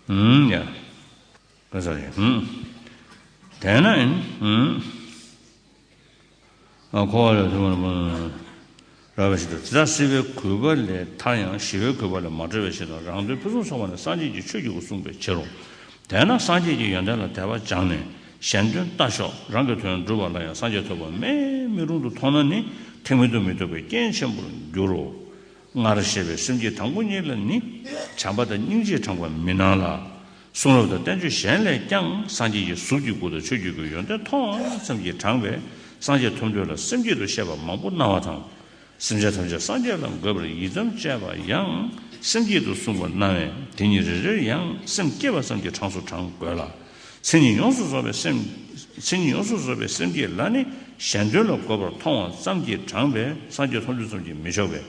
ཡང་དེ་ས་ཡིན་དེ་ན་ཡིན་ཨ་ཁོ་ལ་དེ་མོ་མོ་ར་བ་ཞིག་དུ་དེ་ད་སྲིད་པའི་གུས་པ་ལས་ཐར་ཡང་ཞི་བའི་གུས་པ་ལས་མ་གྲོལ་བའི་ཕྱིར་དང་རང་དོན་ཕུན་སུམ་ཚོགས་པ་ནི་སངས་རྒྱས་ཀྱི་ཆོས་ཀྱི་སྐུ་གསུངས་པའི་ཕྱིར་རོ། དེས་ན་སངས་རྒྱས་ཀྱི་ཡོན་ཏན་ལ་དད་པ་སྦྱངས་ནས་གཞན་དོན་ལྟ་ཞོག་རང་གི་དོན་བསྒྲུབ་པ་ལ་ཡང་སངས་རྒྱས་ཐོབ་པ་མེད་མི་རུང་དུ་མཐོང་ན་ནི་ཐེག་མེད་དུ་མི་ཐོབ་པའི་རྐྱེན་ཆེན་པོར་འགྱུར་རོ། སྔར་བཤད་པའི་སེམས་བསྐྱེད་དང་པོ་གཉིས་ལ་ནི་བྱམས་པ་དང་སྙིང་རྗེས་དྲངས་པ་མི་སྣང་ལ། གསུང་རབ་དང་བསྟན་བཅོས་གཞན་ལས་ཀྱང་སངས་རྒྱས་ཀྱི་གཟུགས་ཀྱི་སྐུ་དང་ཆོས་ཀྱི་སྐུའི་ཡོན་ཏན་མཐོང་ཙམ་གྱིས་དྲངས་པས་སངས་རྒྱས་ཐོབ་འདོད་ལ་སེམས་བསྐྱེད་དུ་བཤད་པ་མང་པོ་སྣང་བ་དང། སེམས་ཅན་ཐམས་ཅད་སངས་རྒྱས་ལ་འགོད་པར་ཡིད་ཙམ་བཅས་པ་ཡང་སེམས་བསྐྱེད་དུ་གསུངས་པར་སྣང་བས་དེ་གཉིས་རེ་རེར་ཡང་སེམས་བསྐྱེད་པ་ཙམ་གྱི་གྲངས་སུ་བགྲང་དགོས་ལ། མཚན་ཉིད་ཡོངས་སུ་རྫོགས་པའི་སེམས། མཚན་ཉིད་ཡོངས་སུ་རྫོགས་པའི་སེམས་ཀྱི་ལྷ་ནི་གཞན་དོན་ལ་འགོད་པར་མཐོང་བ་ཙམ་གྱིས་དྲངས་པའི་སངས་རྒྱས་མཐོང་ཆོས་ཙམ་གྱིས་མི་ཆོག་པས་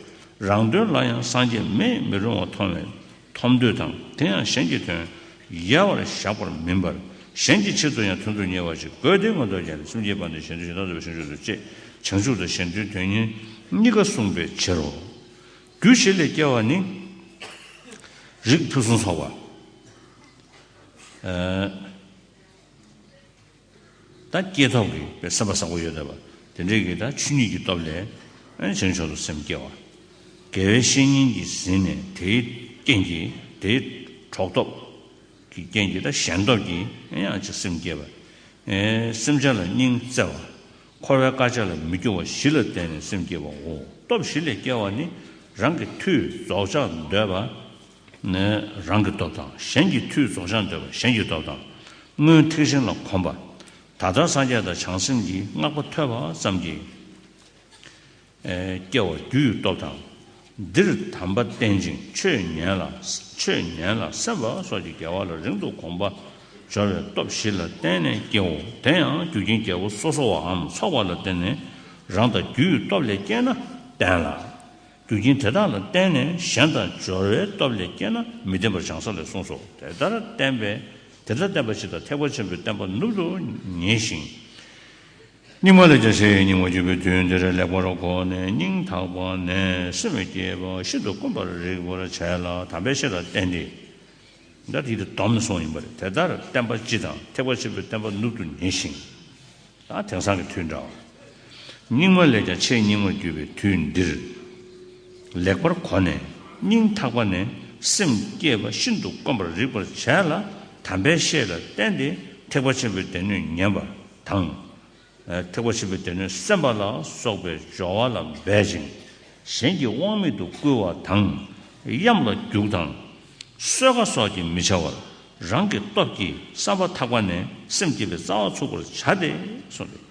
རང་དོན་ལ་ཡང་སངས་རྒྱས་མེད་མི་རུང་བ་མཐོང་བས་མཐོང་འདོད་དང་དེ་ཡང་གཞན་གྱི་དོན་ཡལ་བར་བཞག་པར་མིན་པར་གཞན་གྱི་ཆེད་དུ་ཡང་དོན་དུ་གཉེར་བ་ཅིག་དགོས་ཏེ་མངོན་རྟོགས་ཀྱི་ལྷ་སེམས་བསྐྱེད་པ་ནི་གཞན་དོན་གཞན་དག་རྫོགས་པའི་ཆོས་མཆོག་ཏུ་བཅས་བྱང་ཆུབ་དང་གཞན་དོན་དོན་གཉེར་གཉིས་ཀ་གསུངས་པའི་ཕྱིར་རོ། རྒྱུ་བྱེད་ལས་སྐྱེ་བ་ནི། རིགས་ཕུན་སུམ་ཚོགས་པ། ད་སྐྱེས་ཐོབ་ཀྱི་པའི་སེམས་པ་བཟང་པོ་ཡོད་དགོས་པ། དེ་འདྲའི་གིས་ད་ཆུ་གཉིས་ཀྱི་སྟོབས་ལས། བྱང་ཕྱོགས་སུ་སེམས་སྐྱེ་བ། དགེ་བའི་བཤེས་གཉེན་གྱིས་ཟིན་ནས་དེའི་རྐྱེན་གྱིས་དེའི་གྲོགས་སྟོབས། ཀྱི་རྐྱེན་གྱིས་ད་གཞན་སྟོབས་ཀྱིས་ཡང་ཅིག་སེམས་སྐྱེ་བ། སེམས་བྱ་ལ་སྙིང་བརྩེ་བ། འཁོར་བའི་དཀའ་སྤྱད་ལ་མི་སྐྱོ་བ་བཞི་ལ་བརྟེན་ནས་སེམས་སྐྱེ་བའོ། སྟོབས་བཞི་ལས་སྐྱེ་བ་ནི་རང་གི་མཐུས་རྫོགས་བྱ་འདོད་པ། ནི་རང་གི་སྟོབས་དང་གཞན་གྱི་མཐུས་རྫོགས་བྱང་འདོད་པ་གཞན་གྱི་སྟོབས་དང་སྔོན་ཐེག་ཆེན་ལ་གོམས་པ། ད་ལྟར་སངས་རྒྱས་དང་བྱང་སེམས་ཀྱི་བསྔགས་པ་ཐོས་པ་ཙམ་གྱིས། སྐྱེ་བ་རྒྱུ་ཡི་སྟོབས་དང། འདིར་དམ་པ་བསྟེན་ཅིང་ཆོས་ཉན་ལ་ཆོས་ཉན་ལ་སེམས་དཔའ་སོགས་ཀྱི་དགེ་བ་ལ་རིང་དུ་གོམས་པ། སྦྱོར་བའི་སྟོབས་བཞི་ལ་བརྟེན་ནས་སྐྱེའོ་དེ་ཡང་རྒྱུ་རྐྱེན་བརྒྱད་པོ་སོ་སོ་བའམ་ཚོགས་པ་ལ་བརྟེན་ནས་རང་དང་རྒྱུ་ཡི་སྟོབས་ལས་སྐྱེས་ན་བརྟན་ལ། རྒྱུ་རྐྱེན་དེ་དག་ལ་བརྟེན་ནས་གཞན་དང་སྦྱོར་བའི་སྟོབས་ལས་སྐྱེས་ན་མི་བདེན་པར་བྱང་ས་ལས་གསུངས་སོ། དེ་ལྟར་བསྟན་པས་དེ་ལྟར་བསྟན་པ་ཕྱི་དང་ཐེག་པ་ཆེན་པོའི་བསྟན་པ་ནུབ་ཏུ་ངེས་ཤིང། སྙིགས་མ་ལས་ཀྱང་ཤེས་ཡོན་རྙིང་བར་གྱུར་པའི་དུས་འདིར་ལེགས་པར་གོ་ནས་སྙིང་ཐག་པ་ནས་སེམས་བས་བསྐྱེད་པ་ཤིན་ཏུ་དཀོན་པར་རིག་པར་བྱས་ལ་དམ་པའི་ཤེས་རབ་བསྟན་ཏེ། འདི་ལྟར་དེ་ཡི་དོམ་གསུང་ཡིན་པ་རེད། དེ་ལྟར་བསྟན་པ་སྤྱི་དང་ཐེག་པ་ཆེན་པོའི་བསྟན་པ་ནུབ་ཏུ་ངེས་ཤིང། དེང་སང་གི་དུས་འདྲ་བར། སྙིགས་མ་ལས་ཀྱང་ཆེས་སྙིགས་མར་གྱུར་པའི་དུས་འདིར། ལེགས་པར་གོ་ནས་སྙིང་ཐག་པ་ནས་སེམས་བསྐྱེད་པ་ཤིན་ཏུ་དཀོན་པར་རིག་པར་བྱས་ལ་དམ་པའི་བཤེས་ལ་བསྟེན་ཏེ་ཐེག་པ་ཆེན་པོའི་སྡེ་སྣོད་ཉན་པ་དང། ཐེག་པ་ཆེན་པོའི་སྡེ་སྣོད་སེམས་པ་ལ་སོགས་པའི་སྦྱོར་བ་ལ་འབད་ཅིང་གཞན་གྱི་དབང་མེད་དུ་བསྐུལ་བ་དང། གཡམ་ལ་རྒྱུག་དང། གསོལ་ཁ་སོགས་ཀྱིས་མི་བྱ་བར་རང་གི་སྟོབས་ཀྱིས་བསམ་པ་ཐག་པ་ནས་སེམས་བསྐྱེད་པའི་རྩ་བ་ཚུགས་པར་བྱ་སྟེ། གསུངས་ཏེ།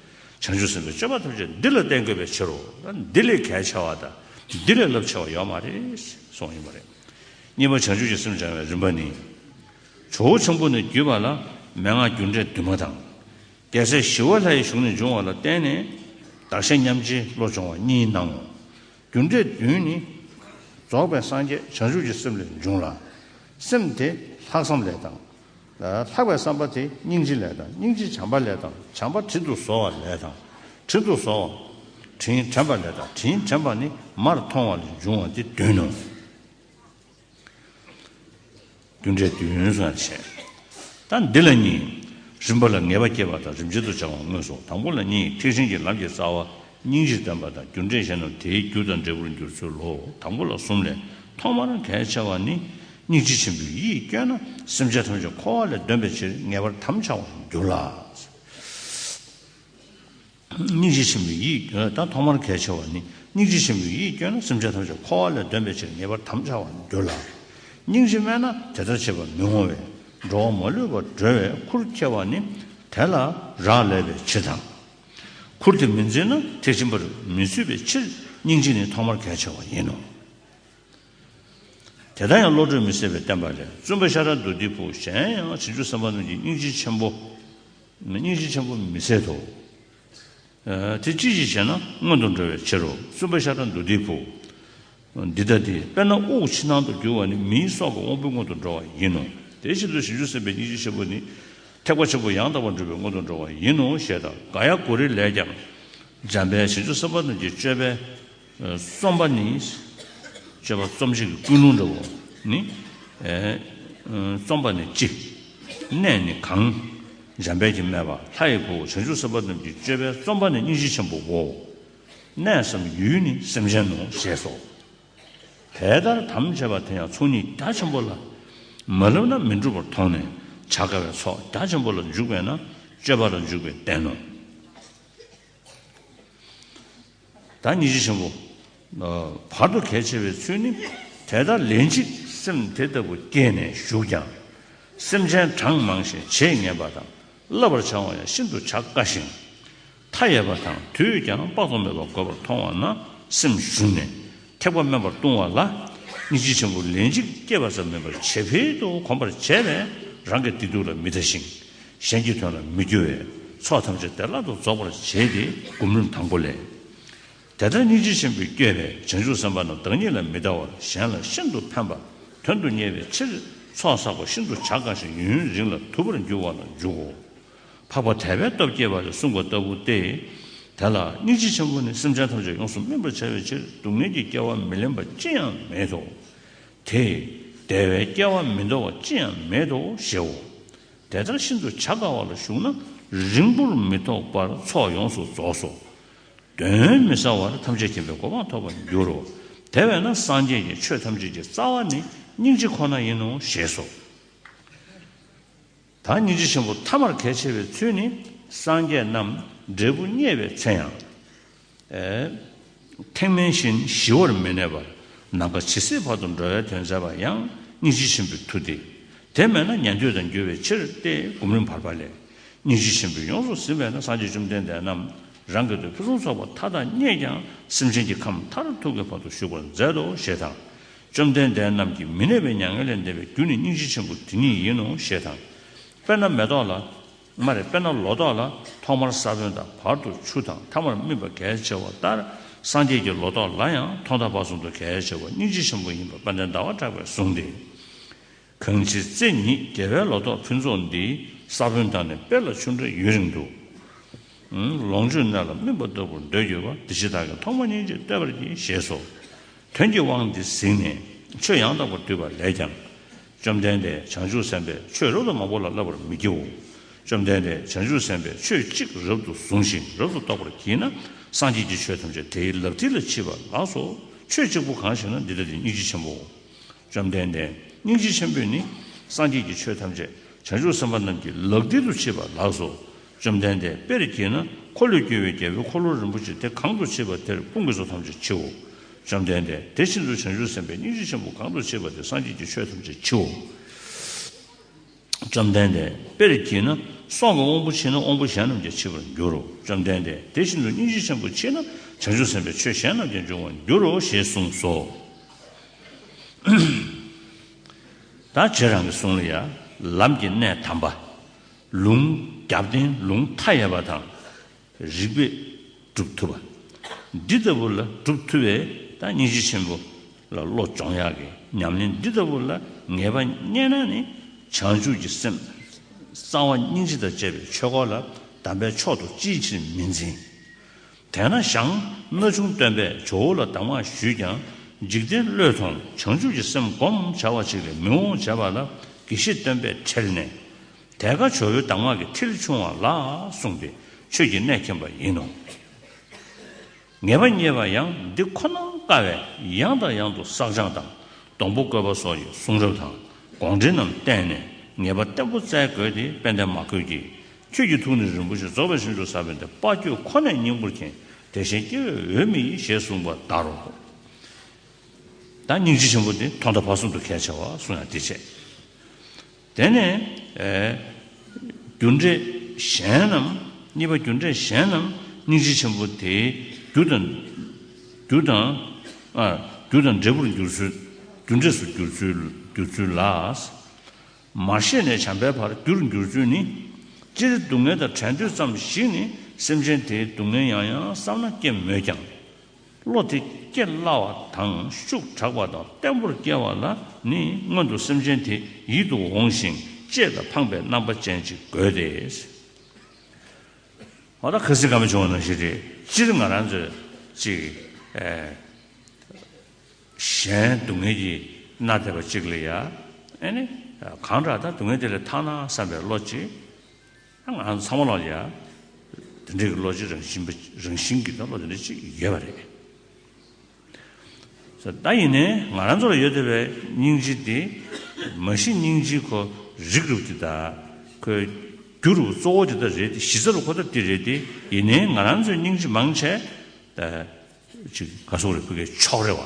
བྱང་ཆུབ་སེམས་དཔའི་སྤྱོད་པ་ཐམས་ཅད་འདི་ལ་བརྟེན་དགོས་པའི་ཕྱིར་རོ། འདི་ལས་གལ་ཆེ་བ་དང་འདི་ལས་རླབས་ཆེ་བ་ཡོད་མ་རེད། གསུངས་ཡོད་པ་རེད། གཉིས་པ་བྱང་ཆུབ་ཀྱི་སེམས་སྦྱང་བའི་རིམ་པ་ནི། ཇོ་བོ་ཆེན་པོ་ནས་བརྒྱུད་པ་ལ་མན་ངག་རྒྱུ་འབྲས་འདུས་མ་དང། རྒྱལ་སྲས་ཞི་བ་ལྷའི་གཞུང་ནས་འབྱུང་བ་ལ་བརྟེན་ནས་བདག་གཞན་མཉམ་བརྗེའི་བློ་སྦྱོང་བ་གཉིས་སྣང་ངོ། རྒྱུ་འབྲས་བདུན་ནི། རྫོགས་པའི་སངས་རྒྱས་བྱང་ཆུབ་ཀྱི་སེམས་ལས་འབྱུང་ལ། སེམས་དེ་ལྷག་བསམ་ལས་དང། ལྷག་པའི་བསམ་པ་དེ་སྙིང་རྗེ་ལས་དང་སྙིང་རྗེ་བྱམས་པ་ལས་དང་བྱམས་པ་དྲིན་དུ་གཟོ་བ་ལས་དང་དྲིན་དུ་གཟོ་བ། དྲིན་དྲན་པ་ལས་དང་དྲིན་དྲན་པ་ནི་མར་མཐོང་བ་ལས་འབྱུང་བ་འདི་བདུན་ནོ། བདུན་འབྲས་བདུན་ཡོན་སོགས་ཡང་བྱེད། ད་འདི་ལ་གཉིས། རིམ་པ་ལ་ངེས་པ་སྐྱེད་པ་དང་རིམ་བྱེད་དུ་སྦྱང་བ་དངོས་སོ། དང་པོ་ལ་གཉིས་ཐེག་ཆེན་གྱི་ལམ་གྱི་རྩ་བ། སྙིང་རྗེ་བརྟན་པ་དང་རྒྱུ་འབྲས་གཞན་ནོ་དེའི་རྒྱུ་དང་འབྲས་བུར་འགྱུར་ཚུལ་ལོ། དང་པོ་ལ་གསུམ་ལས་ཐོག་མར་གལ་ཆེ་བ་ནི། སྙིང་རྗེ་ཆེན་པོའི་ཡིད་སྐྱོ་ན་སེམས་ཅན་ཐམས་ཅད་འཁོར་བ་ལས་འདོན་པའི་ཕྱིར་ངེས་པར་དམ་འཆའ་བར་འགྱུར་ལ། སྙིང་རྗེ་ཆེན་པོའི་ཡིད་སྐྱོན་དང་ཐོག་མར་གལ་ཆེ་བ་ནི་སྙིང་རྗེ་ཆེན་པོའི་ཡིད་སྐྱོན་ན་སེམས་ཅན་ཐམས་ཅད་འཁོར་བ་ལས་འདོན་པའི་ཕྱིར་ངེས་པར་དམ་འཆའ་བར་འགྱུར་ལ། སྙིང་རྗེ་དམན་ན་དེ་ལྟར་བྱེད་པར་མི་འོང་བས་འགྲོ་བ་མ་ལུས་པར་སྒྲོལ་བའི་ཁུར་ཁྱེར་བ་ནི་དེ་ལ་རག་ལས་པའི་ཕྱིར་དང། ཁུར་དེ་མི་འཛིན་ན་ཐེག་ཆེན་པར་མི་ཚུད་པའི་ཕྱིར་སྙིང་རྗེ་ནི་ཐོག་མར་གལ་ཆེ་བ་ཡིན་ནོ། དེ་ལྟར་ཡང་བློ་གྲོས་མི་ཟད་པའི་བསྟན་པ་ལས་བཙུན་པ་ཤཱ་ར་དུ་ཏིའི་བུ་གཞན་ཡང་བྱང་ཆུབ་སེམས་དཔའ་རྣམས་ཀྱིས་སྙིང་རྗེ་ཆེན་པོ། སྙིང་རྗེ་ཆེན་པོ་མི་ཟད་དོ། དེ་ཅི་ཞིག་ཞེ་ན་སྔོན་དུ་འགྲོ་བའི་ཕྱིར་རོ། གསུམ་པ་ཤ་ཁྲག་འདུ་སྡེའི་བུ། འདི་ལྟ་སྟེ། དཔེར་ན་དབུགས་ཕྱི་ནང་དུ་རྒྱུ་བ་ནི་མིའི་སྲོག་གི་དབང་པོའི་སྔོན་དུ་འགྲོ་བ་ཡིན་ནོ། དེའི་ཕྱིར་ཚུལ་བཞིན་དུ་སེམས་དཔའི་སྙིང་རྗེ་ཆེན་པོ་ནི། ཐེག་པ་ཆེན་པོ་ཡང་དག་པར་འགྲུབ་པའི་སྔོན་དུ་འགྲོ་བ་ཡིན་ནོ་ཞེས་དང། གཱ་ཡཱ་གུ་རི་ལས་ཀྱང། འཇམ་དཔལ་ཞིང་ཆུ་སེམས་དཔའ་རྣམས་ཀྱི་སྤྱོད་པས། རྩོམ་པ་ནི། སྤྱོད་པ་རྩོམ་བྱེད་ཀྱི་ཀུན་སློང་འདྲ་བོ་ནི། རྩོམ་པ་ནི་ཅི། གནས་ནི་གང། འཇམ་དཔལ་གྱིས་སྨྲས་པ། ལྷ་ཡི་བུ་བྱང་ཆུབ་སེམས་དཔའ་རྣམས་ཀྱི་སྤྱོད་པའི་རྩོམ་པ་ནི་སྙིང་རྗེ་ཆེན་པོའོ། གནས་སམ་ཡུལ་ནི་སེམས་ཅན་ནོ་ཞེས་སོ། དེ་ལྟར་དམ་བཅས་པ་དེ་ཡང་ཚོགས་གཉིས་རྒྱ་ཆེན་པོ་ལ་མ་བསླབས་ན་མི་འགྲུབ་པར་མཐོང་ནས་བྱ་དཀའ་བས་ཚོགས་རྒྱ་ཆེན་པོ་ལ་འཇུག་པས་ན་སྤྱོད་པ་ལ་འཇུག་པའི་རྟེན་ནོ། ཟླ་ཉི་ཤུ་ཆེན་པོ། བར་དུ་གལ་ཆེ་བའི་ཚུལ་ནི། དེ་ལྟར་ལན་གཅིག་སེམས་དེ་ལྟ་བུ་སྐྱེས་ནས་ཞུགས་ཀྱང། སེམས་ཅན་གྲངས་མང་ཞིང་བྱེད་ངན་པ་དང་བསླབ་པར་བྱ་བ་ཡང་ཤིན་ཏུ་བྱ་དཀའ་ཞིང། མཐའ་ཡས་པ་དང་དུས་ཀྱང་དཔག་ཏུ་མེད་པ་དགོས་པར་མཐོང་བ་ན་སེམས་ཞུམ་ནས། ཐེག་པ་དམན་པར་ལྟུང་བ་ལ་སྙིང་རྗེ་ཆེན་པོ་ལན་གཅིག་སྐྱེས་པ་ཙམ་མིན་པར་ཇེ་འཕེལ་དུ་གོམས་པར་བྱས་པས་རང་གི་བདེ་སྡུག་ལ་མི་ལྟ་ཞིང་གཞན་གྱི་དོན་ལ་མི་སྐྱོ་བས་ཚོགས་ཐམས་ཅད་བདེ་བླག་ཏུ་རྫོགས་པར་བྱེད་དེ་སྒོམ་རིམ་དང་པོ་ལས། དེ་ལྟར་སྙིང་རྗེ་ཆེན་པོས་བསྐྱོད་པའི་བྱང་ཆུབ་སེམས་དཔའ་རྣམས་བདག་ཉིད་ལ་མི་ལྟ་བར་གཞན་ལ་ཤིན་ཏུ་ཕན་པ་དོན་དུ་གཉེར་བའི་ཕྱིར་ཚོགས་བསགས་པ་ཤིན་ཏུ་བྱ་དཀའ་ཞིང་ཡུན་རིང་ལ་དུལ་བར་འགྱུར་བ་ལ་འཇུག་གོ། འཕགས་པ་དད་པའི་སྟོབས་བསྐྱེད་པ་ལས་གསུངས་པ་ལྟ་བུ་སྟེ། དེ་ལ་སྙིང་རྗེ་ཆེན་པོ་ནི་སེམས་ཅན་ཐམས་ཅད་ཡོངས་སུ་སྨིན་པར་བྱ་བའི་ཕྱིར་སྡུག་བསྔལ་གྱི་སྐྱེ་བ་མི་ལེན་པ་ཅི་ཡང་མེད་དོ། དེས་བདེ་བའི་སྐྱེ་བ་མི་འདོར་བ་ཅི་ཡང་མེད་དོ་ཞེའོ། དེ་ལྟར་ཤིན་ཏུ་བྱ་དཀའ་བ་ལ་ཞུགས་ན་རིང་པོར་མི་ཐོགས་པར་ཚོགས་ཡོངས་སུ་རྫོགས་སོ། གདོན་མི་ཟ་བར་ཐམས་ཅད་མཁྱེན་པའི་གོ་འཕང་ཐོབ་པར་འགྱུར་རོ། དེ་བས་ན་སངས་རྒྱས་ཀྱི་ཆོས་ཐམས་ཅད་ཀྱི་རྩ་བ་ནི་སྙིང་རྗེ་ཁོ་ན་ཡིན་ནོ་ཞེས་སོ། ད་སྙིང་རྗེ་ཆེན་པོ་མཐའ་མར་གལ་ཆེ་བའི་ཚུལ་ནི་སངས་རྒྱས་རྣམས་འབྲས་བུ་བརྙེས་པའི་ཚེ་ཡང། ཐེག་དམན་བཞིན་ཞི་བར་མི་གནས་པར་ནམ་མཁའ་ཇི་སྲིད་བར་དུ་འགྲོ་བའི་དོན་མཛད་པ་ཡང་སྙིང་རྗེ་ཆེན་པོའི་མཐུ་སྟེ། དེ་མེད་ན་ཉན་ཐོས་དང་འགྱུར་བའི་ཕྱིར་ཏེ་སྒོམ་རིམ་བར་པ་ལས་སྙིང་རྗེ་ཆེན་པོས་ཡོངས་སུ་ཟིན་པས་ན་སངས་རྒྱས་བཅོམ་ལྡན་འདས་རྣམས་རང་གི་དོན་ཕུན་སུམ་ཚོགས་པ་མཐའ་དག་བརྙེས་ཀྱང་སེམས་ཅན་གྱི་ཁམས་མཐར་ཐུག་གི་བར་དུ་བཞུགས་པར་མཛད་དོ་ཞེས་དང། བཅོམ་ལྡན་འདས་རྣམས་ཀྱི་མི་གནས་པའི་མྱ་ངན་ལས་འདས་པའི་རྒྱུ་ནི་སྙིང་རྗེ་ཆེན་པོ་དེ་ཉིད་ཡིན་ནོ་ཞེས་དང། དཔེར་ན་མེ་ཏོག་ལ། མ་རེད་དཔེར་ན་ལོ་ཏོག་ལ་ཐོག་མར་ས་བོན་དང་བར་དུ་ཆུ་དང་མཐའ་མར་སྨིན་པ་གལ་ཆེ་བ་ལྟར་སངས་རྒྱས་ཀྱི་ལོ་ཏོག་ལ་ཡང་ཐོག་མཐའ་བར་གསུམ་དུ་གལ་ཆེ་བ་སྙིང་རྗེ་ཆེན་པོ་ཡིན་པ་དཔལ་ལྡན་ཟླ་བ་གྲགས་པས་གསུངས་ཏེ། གངས་ཅན་བརྩེ་ཉིད་རྒྱལ་བའི་ལོ་ཏོག་ཕུན་ཚོགས་འདི། ས་བོན་དང་ནི་དཔལ་ལ་ཆུ་འདྲ་ཡུན་རིང་དུ། ལོངས་སྤྱོད་གནས་ལ་སྨིན་པ་ལྟ་བུར་འདོད་གྱུར་པ་འདི་ཕྱི་དག་གི་ཐོག་མ་སྙིང་རྗེས་བསྟོད་པར་གྱིས་ཞེས་སོ། དོན་གྱི་དབང་འདི་གཟིགས་ནས་ཆོས་ཡང་དག་པར་བསྡུས་པ་ལས་ཀྱང། བཅོམ་ལྡན་འདས་བྱང་ཆུབ་སེམས་དཔས་ཆོས་རབ་ཏུ་མང་པོ་ལ་བསླབ་པར་མི་བགྱིའོ། བཅོམ་ལྡན་འདས་བྱང་ཆུབ་སེམས་དཔས་ཆོས་གཅིག་རབ་ཏུ་བཟུང་ཞིང་རབ་ཏུ་རྟོགས་པར་བགྱིས་ན་སངས་རྒྱས་ཀྱི་ཆོས་ཐམས་ཅད་དེའི་ལག་མཐིལ་ལ་མཆིས་པ་ལགས་སོ། ཆོས་གཅིག་པུ་གང་ཞེ་ན་འདི་ལྟ་སྟེ་སྙིང་རྗེ་ཆེན་པོའོ། བཅོམ་ལྡན་འདས་སྙིང་རྗེ་ཆེན་པོས་ནི་སངས་རྒྱས་ཀྱི་ཆོས་ཐམས་ཅད་བྱང་ཆུབ་སེམས་དཔའ་རྣམས་ཀྱི་ལག་མཐིལ་དུ་མཆིས་པ་ལགས་སོ། བཅོམ་ལྡན་འདས་དཔེར་གྱིས་ན་འཁོར་ལོས་སྒྱུར་བའི་རྒྱལ་པོའི་འཁོར་ལོ་རིན་པོ་ཆེ་དེ་གང་དུ་མཆིས་པ་དེར་དཔུང་གི་ཚོགས་ཐམས་ཅད་མཆིའོ། བཅོམ་ལྡན་འདས་དེ་བཞིན་དུ་བྱང་ཆུབ་སེམས་དཔའི་སྙིང་རྗེ་ཆེན་པོ་གང་དུ་མཆིས་པ་དེར་སངས་རྒྱས་ཀྱི་ཆོས་ཐམས་ཅད་མཆིའོ། བཅོམ་ལྡན་འདས། དཔེར་བགྱི་ན། སྲོག་གི་དབང་པོ་མཆིས་ན་དབང་པོ་གཞན་རྣམས་ཀྱང་མཆིས་པར་འགྱུར་རོ། བཅོམ་ལྡན་འདས་དེ་བཞིན་དུ་སྙིང་རྗེ་ཆེན་པོ་མཆིས་ན་བྱང་ཆུབ་སེམས་དཔའི་ཆོས་གཞན་རྣམས་ཀྱང་འབྱུང་བར་འགྱུར་རོ་ཞེས་གསུངས་སོ། ད་ཁྱེད་རང་གི་གསུང་ལ་ཡ། ལམ་གྱི་གནས་དམ་པ། ལུང། རྒྱབ་རྟེན་ལུང་མཐའ་ཡས་པ་དང། རིགས་པས་སྒྲུབ་ཐུབ་པ། འདི་ལྟ་བུ་ལ་སྒྲུབ་ཐུབ་པས་ད་སྙིང་རྗེ་ཆེན་པོ་ལ་བློ་སྦྱོང་ཡག་གི་ཉམས་ལེན་འདི་ལྟ་བུ་ལ་ངེས་པ་རྙེད་ན་ནི་བྱང་ཆུབ་ཀྱི་སེམས་གསང་བ་སྙིང་རྗེ་དང་བཅས་པའི་ཆོས་འཁོར་ལ་དམ་པའི་མཆོག་ཏུ་ཅིའི་ཕྱིར་མི་འཛིན། དེས་ན་ཞང་སྣ་ཆུང་སྟོན་པས་ཇོ་བོ་ལ་གདམས་ངག་ཞུས་ཀྱང་འཇིག་རྟེན་བློས་ཐོང་བྱང་ཆུབ་ཀྱི་སེམས་བསྒོམ་བྱ་བ་ཅིག་ལས་མི་འོང་བྱས་པ་ལ་དགེ་བཤེས་སྟོན་པས་ཁྲེལ་ནས་དལ་ཁ་བྱོ་ཡོ་གདམས་ངག་གི་མཐིལ་ཕྱུང་བ་ལ་གསུངས་པའི་ཆོས་ཀྱི་གནད་མཁྱེན་པ་ཡིན་ནོ། ངེས་པ་རྙེད་པ་ཡང་འདི་ཁོ་ན་དཀའ་བས་ཡང་དང་ཡང་དུ་བསགས་སྦྱང་དང་སྡོང་པོ་བཀོད་པ་སོགས་ཀྱི་གསུང་རབ་དང་དགོངས་འགྲེལ་རྣམས་བསྟན་ནས་ངེས་པ་བརྟན་པོ་བཙལ་དགོས་ཏེ་དཔལ་ལྡན་མ་བཀོད་ཀྱིས་ཁྱོད་ཀྱི་ཐུགས་ནི་རིན་པོ་ཆེ་རྫོགས་པའི་ཞིང་དུ་ཟབ་པའི་འདི་དཔའ་ཁྱོད་ཁོ་ནའི་སྙིང་པོར་མཁྱེན་དེ་བཞིན་སྐྱེ་བོའི་འོས་མི་ཡིས་ཞེས་གསུངས་པ་ལྟར་རོ། དང་སྙིང་རྗེ་ཆེན་པོ་འདི་ཐོག་མཐའ་བར་གསུམ་དུ་གལ་ཆེ་བར་གསུངས་ཡང་འདི་ཆེས། དེ་ནས། རྒྱུ་འབྲས་གཞན་རྣམས། གཉིས་པ་རྒྱུ་འབྲས་གཞན་རྣམས་སྙིང་རྗེ་ཆེན་པོ་དེའི་རྒྱུ་དང། རྒྱུ་དང། རྒྱུ་དང་འབྲས་བུར་འགྱུར་ཚུལ། རྒྱུ་འབྲས་སུ་འགྱུར་ཚུལ་ལ། མ་ཤེས་ནས་བྱམས་པའི་བར་རྒྱུར་འགྱུར་ཚུལ་ནི། སྤྱིར་སྡུག་བསྔལ་དང་བྲལ་འདོད་ཙམ་ཞིག་ནི་སེམས་ཅན་དེའི་སྡུག་བསྔལ་ཡང་ཡང་བསམ་ན་སྐྱེ་མོད་ཀྱང། བློ་དེ་སྐྱེ་སླ་བ་དང་ཤུགས་དྲག་པ་དང་བརྟན་པོར་སྐྱེ་བ་ལ་ནི་སྔོན་དུ་སེམས་ཅན་དེ་ཡིད་དུ་འོང་ཞིང་གཅེས་དང་ཕངས་པའི་རྣམ་པ་ཅན་ཅིག་དགོས་ཏེ། ཨོ་ད་ག་སི་ག་མི་བྱུང་བ་ནང་བཞིན་རེད། སྤྱིར་ང་རང་ཚོས་ཅིག་གཞན་སྡུག་བསྔལ་གྱིས་མནར་ཐེབས་པ་ཅིག་ལ་ཡ་ཨེ་ནི། གང་དྲག་ད་སྡུག་བསྔལ་དེ་ལས་ཐར་ན་བསམ་པའི་བློ་ཅིག་ང་རང་ཚང་མ་ལ་ཡང་དེ་འདྲའི་བློ་སྤྱི་རང་བཞིན་པ་རང་བཞིན་གྱི་བློ་དེ་འདྲ་གཅིག་ཡོད་པ་རེད། ད་ཡིན་ནའི་ང་རང་ཚོ་ལ་ཡོད་བསྡད་པའི་སྙིང་རྗེ་དེ་མ་གཞི་སྙིང་རྗེའི་ཁོ་རིགས་རུབ་དེ་དང་ཁོའི་རྒྱུ་རུ་གཙོ་བོ་དེ་དག་རེད་དེ་གཞི་རྩ་རུ་ཁོ་དག་དེ་རེད་དེ་ཡིན་ནའི་ང་རང་ཚོའི་སྙིང་རྗེ་མང་ཆེ། ཅིག་ག་སོག་རེ་ཕུ་གའི་ཕྱོགས་རེ་བ།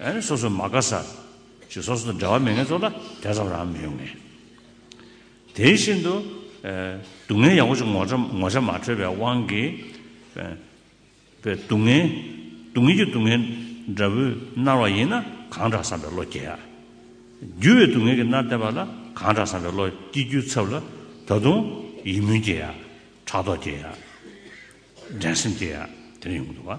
ཨེ། སོ་སོའི་མ་དགའ་ས། ཞིག་སོ་སོ་དང་འབྲལ་བ་མེད་ངལ་རྩོལ་ལ་དལ་ཙམ་རང་མི་ཡོང་ངེས། དེ་བཞིན་དུ། སྡུག་བསྔལ་ཡང་བོ་ཅིག་ངོ་ཚ་ངོ་ཚ་མ་འཕྲོད་པའི་དབང་གིས། པའི་སྡུག་བསྔལ། སྡུག་བསྔལ་གྱི་སྡུག་བསྔལ་འདྲ་བུས་མནར་བ་ཡིན་ན་གང་དྲག་བསམ་པའི་བློ་སྐྱེ། རྒྱུ་བའི་སྡུག་བསྔལ་གྱིས་མནར་བསྡད་པ་ལ་གང་དྲག་བསམ་པའི་བློ་སྐྱེ་རྒྱུའི་ཚབ་ལ་ད་དུང་ཡིད་སྨོན་སྐྱེ། ཕྲག་དོག་སྐྱེ། འགྲན་སེམས་སྐྱེ། དེ་ཡོང་གི་འདུག་བ།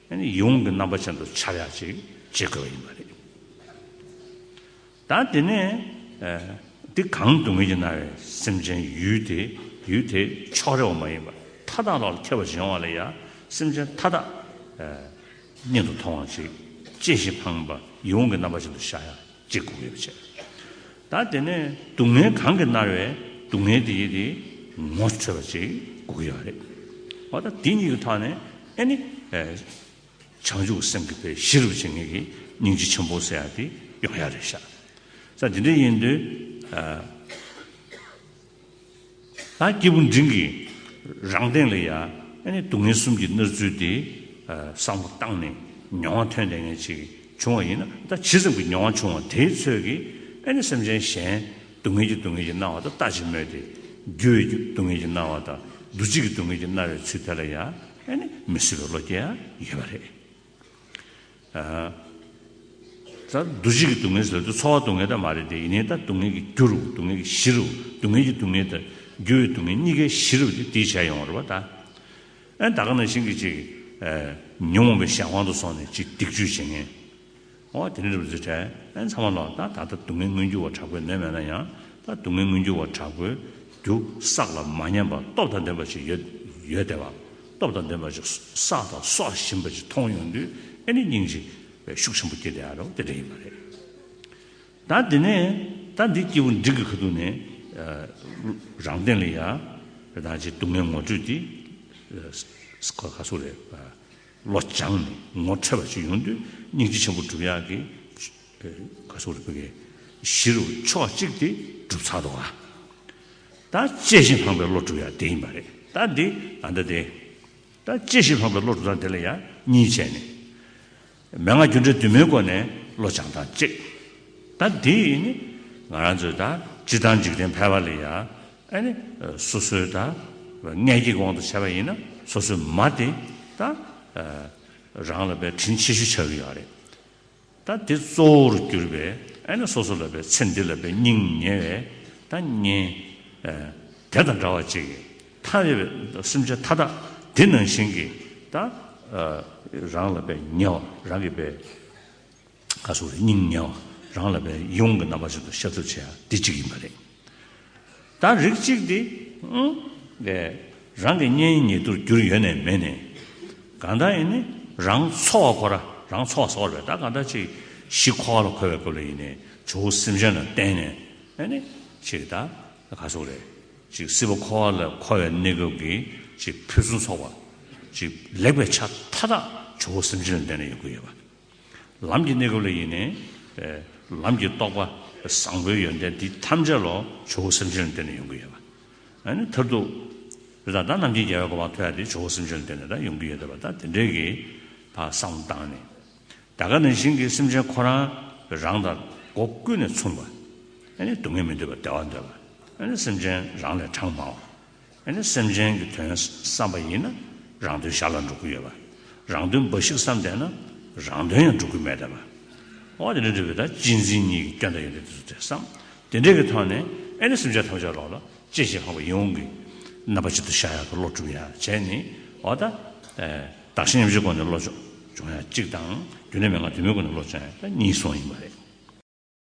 ཡོངས་ཀྱི་རྣམ་པ་ཅན་དུ་འཆར་ཡག་ཅིག་བྱེད་དགོས་པ་ཡིན་པ་རེད། ད་དེ་ནས་འདི་གང་སྡུག་བསྔལ་གྱི་ན་བའི་སེམས་ཅན་ཡུལ་དེ་ཡུལ་དེ་ཕྱོགས་རེ་བ་མ་ཡིན་པར་མཐའ་དག་ལ་ཁྱབ་པར་སྦྱང་བ་ལ་ཡང་སེམས་ཅན་མཐའ་དག་སྙིང་དུ་མཐོང་བ་ཅིག་སྐྱེ་ཞིང་འཕངས་པ་ཡོངས་ཀྱི་རྣམ་པ་ཅན་དུ་བཞག་ཡག། ཅེས་བསྒོམ་ཡོ་བྱད་དག་དེ་ནས་སྡུག་བསྔལ་གང་གིས་མནར་བའི་སྡུག་བསྔལ་དེ་ཡིད་དེ་ངོ་འཕྲོད་པ་ཅིག་བསྒོ་གི་ཡོད་རེད། འོ་ད་དེ་གཉིས་ཀྱི་ཐོག་ནས་ཨེ་ནི། བྱང་ཆུབ་སེམས་ཀྱི་དཔལ་གཞི་རུ་བྱེད་ངེས་ཀྱི་སྙིང་རྗེ་ཆེན་པོ་ཟེར་ཡག་དེ་ཡོང་ཡག་རེད་ཤག། ས་འདི་འདྲ་ཡིན་དུས། ད་སྐྱེས་བུ་འབྲིང་གིས་རང་སྟེང་ལ་ཡང་སྡུག་བསྔལ་གསུམ་གྱི་མནར་ཚུལ་དེ་བསམ་བློ་བཏང་ནས་མྱོང་བ་ཐོན་ལས་ངན་ཅིག་བྱུང་བ་ཡིན་ན་ད་ཇི་ཙམ་གྱི་མྱོང་བ་བྱུང་བ་དེའི་ཚོད་ཀྱིས་སེམས་ཅན་གཞན་སྡུག་བསྔལ་གྱི་སྡུག་བསྔལ་གྱིས་མནར་བ་དང་ལྟ་ཅི་སྨོས་ཏེ། རྒྱུ་བའི་སྡུག་བསྔལ་གྱིས་མནར་བ་དང་འདུ་བྱེད་ཀྱི་སྡུག་བསྔལ་གྱིས་མནར་བའི་ཚུལ་དེ་ལ་ཡང་མི་སྲིད་པའི་བློ་སྐྱེ་ཡང་ཡོད་པ་རེད། ད་འདུ་བྱེད་ཀྱི་སྡུག་བསྔལ་ཟེར་དུས་འཚོ་བ་སྡུག་བསྔལ་དག་མ་རེད་དེ་ཡིན་ནའི་ད་སྡུག་བསྔལ་གྱི་རྒྱུ་རུ་སྡུག་བསྔལ་གྱི་གཞི་རུ་སྡུག་བསྔལ་གྱི་སྡུག་བསྔལ་དང་རྒྱུ་བའི་སྡུག་བསྔལ་གཉིས་ཀའི་གཞི་རུ་དེ་དེའི་བྱ་ཡོང་བ་རེད་བ་ད། ཨན་ད་ག་ནང་བཞིན་གྱི་ཅིག་ཉོན་མོངས་པའི་ཞག་དབང་དུ་སོང་ནས་ཅིག་སྡིག་སྤྱོད་བྱེད་ངེས། ཨོ་དེ་ནི་རུ་རྫི་ཁྲལ་ཨན་ཚང་མ་ལོག་ད་ད་ལྟ་སྡུག་བསྔལ་མངོན་འགྱུར་བ་དྲག་པོས་ནོན་མེད་ན་ཡང་ད་སྡུག་བསྔལ་མངོན་འགྱུར་བ་དྲག་པོའི་རྒྱུ་བསགས་ལ་མ་ཉམས་པ་སྟོབས་དང་ལྡན་པ་ཞིག་ཡོད་ཡོད་དེ་བ། སྟོབས་དང་ལྡན་པ་ཅིག་བསགས་དང་སོགས་བཞིན་པ་ཅིག་མཐོང་ཡོང་དུས་ཨེ་ནི་སྙིང་རྗེ་བའི་ཤུགས་ཆེན་པོ་སྐྱེ་བདེ་ཨ་རོགས་དེ་འདྲ་ཡིན་པ་རེད། ད་འདི་ནས་ད་འདི་སྐྱེས་བུ་འབྲིང་གི་ཁ་ཐུག་ནས་རང་སྟེང་ལ་ཡ་རེ་དང་ཅིག་སྡུག་བསྔལ་ངོ་སྤྲོད་དེ་སི་ཁོ་ཁ་སུ་རེད་བློ་སྦྱངས་ནས་ངོ་འཕྲད་པ་ཅིག་ཡོང་དུས་སྙིང་རྗེ་ཆེན་པོ་བསྒྲུབ་ཡག་གི་ག་སོགས་ལ་བོད་སྐད་གཞི་རུ་ཕྱོགས་གཅིག་སྟེ་གྲུབ་ཚར་འདུག་ཨ། ད་དཔྱད་གཞི་སླངས་པའི་བློ་གྲུབ་ཡང་དེ་ཡིན་པ་རེད་ད་འདི་ད་ལྟ་དེ། ད་དཔྱད་གཞི་སླངས་པའི་བློ་གྲུབ་དང་དེ་ལ་ཡང་གཉིས་བྱས་ནས། མན་ངག་རྒྱུ་འབྲས་དུ་མའི་སྒོ་ནས་བློ་སྦྱང་སྟངས་གཅིག། ད་འདི་ནི་ང་རང་ཚོས་ད་སྤྱི་བཏང་འཇིག་རྟེན་ཕལ་བ་ལས་ཡང་ཨ་ནི་སོ་སོའི་ད་མངལ་སྐྱེས་ཀྱི་དབང་དུ་བྱས་པ་ཡིན་ན་སོ་སོའི་མ་དེ་ད་རང་ལ་པའི་དྲིན་ཆེ་ཞུ་བྱ་གི་ཡོད་རེད། ད་དེ་གཙོ་བོར་གྱུར་པས་ཨེ་ནས་སོ་སོ་ལ་པའི་ཚེ་འདི་ལ་པའི་སྙིང་ཉེ་བས་ད་ཉེ། དེ་དང་འདྲ་བ་གཅིག་གིས་མཐའ་ཡས་པའི་སེམས་ཅན་མཐའ་དག་འདི་ནང་བཞིན་གྱིས་ད། རང་ལ་པའི་ཉེ་བ་རང་གི་པའི། ཁ་སོ་བའི་སྙིང་ཉེ་བ་རང་ལ་པའི་ཡོངས་ཀྱི་རྣམ་པ་བཞིན་དུ་ཤ་ཚུགས་ཆེ་ཡང་འདི་གཅིག་ཡིན་པ་རེད། ད་རིགས་གཅིག་དེ་ལས་རང་གི་གཉེན་ཉེ་དུར་གྱུར་ཡོད་ནས་མེད་ནས་གང་དག་ཡིན་ནི་རང་འཚོ་བ་ཁོ་ར་རང་འཚོ་བ་སོགས་རེད་ད་གང་དག་ཅིག་གཞི་ཁོ་ལ་འཁོལ་བའི་སྐབས་ལ་ཡིན་ནས་ཇོ་བོ་སེམས་ཅན་ལ་བརྟེན་ནས་ཨེ་ནི་ཅིག་ད་ག་སོགས་རེད་ཅིག་སྲིད་པ་ཁོ་ལ་འཁོལ་བའི་གནས་སྐབས་ཀྱི་ཅིག་ཕུན་སུམ་ཚོགས་པ་ཅིག་ལེགས་པའི་ཆ་མཐའ་དག་ཇོ་བོ་སེམས་ཅན་ལ་བརྟེན་ནས་ཡོད་དགོས་ཡོད་པ། ལམ་གྱི་གནས་སྐབས་ལ་ཡིན་ནས། ལམ་གྱི་རྟོགས་པ་བཟང་པོའི་ཡོན་ཏན་འདི་ཐམས་ཅད་ལོ་ཇོ་བོ་སེམས་ཅན་ལ་བསྟོད་ནས་ཡོང་གི་ཡོད་པ། ཨ་ནི་མཐར་ཐུག། འདི་ལྟར་ད་རྣམ་ཀྱིས་རྒྱལ་བའི་གོ་འཕང་ཐོས་ཡ་འདི་ཇོ་བོ་སེམས་ཅན་ལ་བསྟོད་ནས་ད་ཡོང་གི་ཡོད་དོ་པ་ད་དེ་འདྲའི་གི་ད་གསང་བཏང་ནས། ད་ག་ནས་བཞིན་གི་སེམས་ཅན་ཁོ་རང་གི་རང་དང་སྒོ་ཀུན་ནས་མཚུངས་པ། ཨ་ནི་སྡུག་བསྔལ་མི་འདོད་པ་བདེ་བ་འདོད་པ། ཨ་ནི་སེམས་ཅན་རང་ལས་གྲངས་མང་བ། ཨ་ནི་སེམས་ཅན་གྱི་དོན་བསམ་པ་ཡིན་ན་རང་དོན་ཞར་ལ་འགྲོ་གི་ཡོད་པ། རང་དོན་འབའ་ཞིག་བསམ་བསྡད་ན་རང་དོན་ཡང་འགྲོ་གི་མེད་བསྡད་པ། འོ་དེ་འདྲ་འདུལ་བའི་ད་གཅིག་འཛིན་གཉིས་ཀྱི་སྐྱོན་ད་ཡོད་དེ་དེ་ཚོ་བསམ། དེ་འདྲའི་གི་ཐོག་ནས་ཨ་ནི་སེམས་ཅན་ཐམས་ཅད་ལོག་ལ་སྤྱད་བྱེད་འཕངས་པ་ཡིན་འོང་གི། རྣམ་པ་གཅིག་ཏུ་བཞག་ཡག་གི་བློ་གྲུབ་ཡག་བྱས་ནི་འོ་ད། བདག་གཞན་མཉམ་བཞེས་སྐོར་ནས་བློ་ཕྱོགས་སྦྱོང་ཡག་གཅིག་དང་རྒྱུན་ལས་མེད་ངང་དུས་མིན་སྐོར་ནས་བློ་སྦྱོང་ཡག་གཉིས་སོང་ཡིན་པ་རེད།